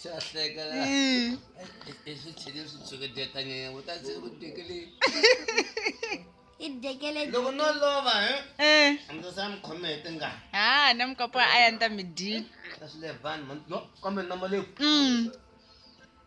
se a hleka la i swi tshile swi tshuketeta nyenya u ta se ku tekele i dekele loko no lova he Eh. a ndzi sa mi khome hi tingana Ah, na mukapa a ya nta mi dyi. ta swi le vanhu man- no kambe nama leyi Mm.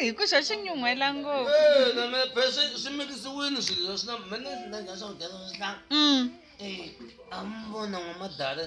hi ku xa xi nyuhela ngopfu Eh, na me phe swi swi mikisiwini swilo leswi na mina na dya swakudya swa swihlanga mm. eh a mi vona n'wamadala